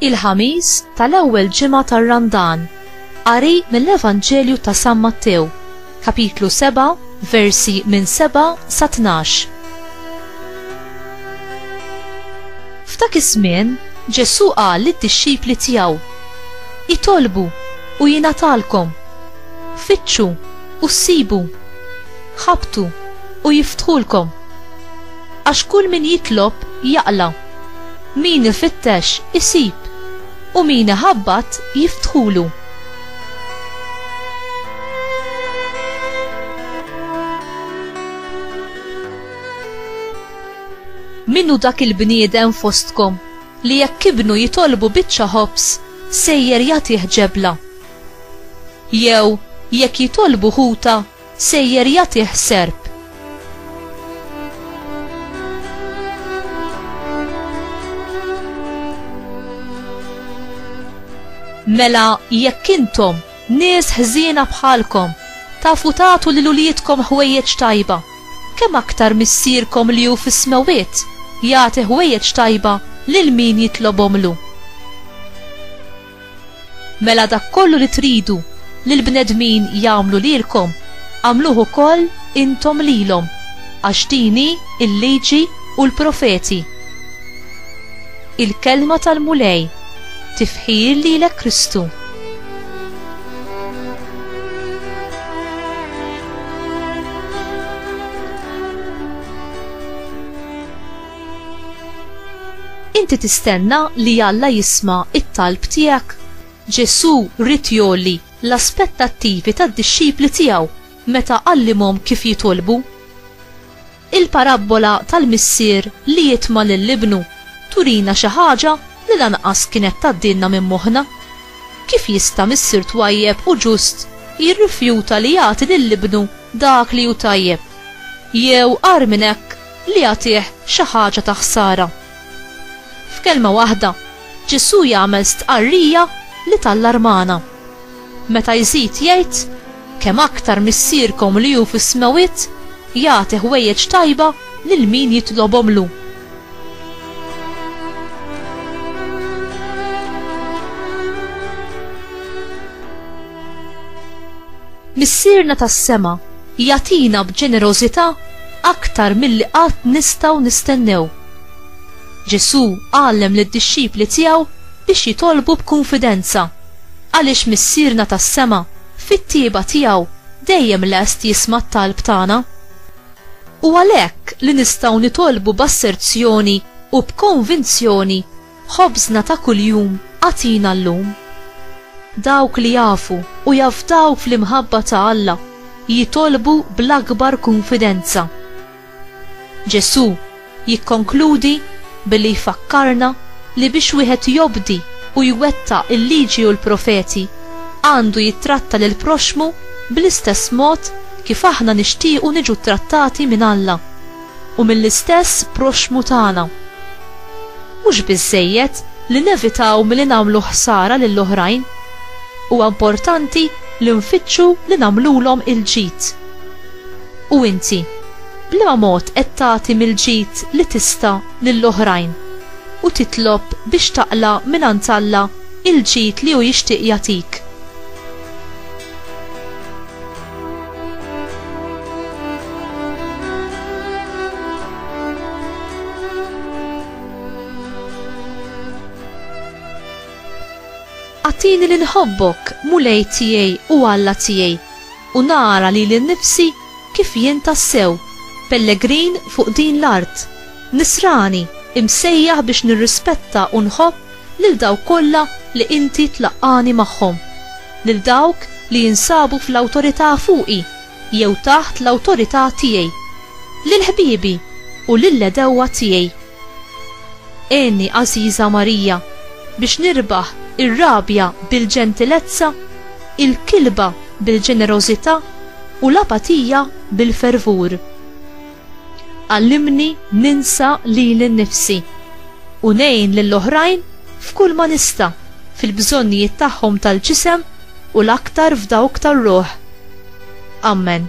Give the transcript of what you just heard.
il-ħamis tal-ewwel ġimgħa tar-Randan. Qari mill-Evanġelju ta' San Mattew, kapitlu 7, versi minn 7 sa 12. F'dak iż-żmien, Ġesù qal lid-dixxipli tiegħu Itolbu u jingħatalkom. Fittxu u ssibu. Ħabtu u jiftħulkom. Għax kull min jitlob jaqla', min ifittex isib, u min iħabbat jiftħulu. Min hu dak il-bniedem fostkom li jekk ibnu jitolbu biċċa ħobż sejjer jagħtih ġebla. Jew jekk jitolbu ħuta sejjer jagħtih serp. Mela jekk intom Nies ħżiena bħalkom, tafu tagħtu lil uliedkom ħwejjeġ tajba, kemm aktar Missierkom li hu fis-smewwiet jagħti ħwejjeġ tajba lil min jitlobhomlu! Mela dak kollu li tridu li l-bnedmin jagħmlu lilkom, agħmluh ukoll intom lilhom, għax din hi l-Liġi u l-Profeti. Il-Kelma tal-Mulej, Tifħir lilek Kristu! Inti tistenna li Alla jisma' it-talb tiegħek? Ġesù ried jgħolli l-aspettattivi tad-dixxipli tiegħu meta għallimhom kif jitolbu. Il-parabbola tal-missier li jitma' lil ibnu turina xi ħaġa li lanqas kienet tgħaddilna minn moħħna. Kif jista' missier twajjeb u ġust jirrifjuta li jagħti lil ibnu dak li hu tajjeb, jew agħar minn hekk li jagħtih xi ħaġa ta' ħsara? F'kelma waħda, Ġesù jagħmel stqarrija li tallarmana. Meta jżid jgħid, Kemm aktar Missierkom li hu fis-smewwiet jagħti ħwejjeġ tajba lil min jitlobhomlu. Missierna tas-sema jagħtina b'ġenerożità aktar milli qatt nistgħu nistennew. Ġesù għallem lid-dixxipli tiegħu biex jitolbu b'kunfidenza. Għaliex Missierna tas-sema, fit-tjieba tiegħu, dejjem lest jisma' t-talb tagħna. Hu għalhekk li nistgħu nitolbu b'asserzjoni u b'konvinzjoni, Ħobżna ta' kuljum agħtina llum. Dawk li jafu u jafdaw fl-imħabba ta' Alla jitolbu bl-akbar kunfidenza. Ġesù jikkonkludi billi jfakkarna li biex wieħed jobdi u jwettaq il-Liġi u l-Profeti, għandu jittratta lill-proxxmu bl-istess mod kif aħna nixtiequ niġu ttrattati minn Alla u mill-istess proxxmu tagħna. Mhux biżżejjed li nevitaw milli nagħmlu ħsara lil oħrajn, huwa importanti li nfittxu li nagħmlulhom il-ġid. U inti, b'liema mod qed tagħti mill-ġid li tista' lil oħrajn u titlob biex taqla' mingħand Alla l-ġid li hu jixtieq jagħtik? Agħtini li nħobbok, Mulej tiegħi u Alla tiegħi, u nara lili nnifsi kif jien tassew pellegrin fuq din l-art, nisrani imsejjaħ biex nirrispetta u nħobb lil dawk kollha li Inti tlaqqagħni magħhom, lil dawk li jinsabu fl-awtorità fuqi jew taħt l-awtorità tiegħi, lil ħbiebi u lill-għedewwa tiegħi. Għenni, għażiża Marija, biex nirbaħ ir-rabja bil-ġentilezza, il-kilba bil-ġenerożità u l-apatija bil-fervur. Għallimni ninsa lili nnifsi u ngħin lill-oħrajn f'kull ma nista' fil-bżonnijiet tagħhom tal-ġisem u l-aktar f'dawk tar-ruħ. Ammen.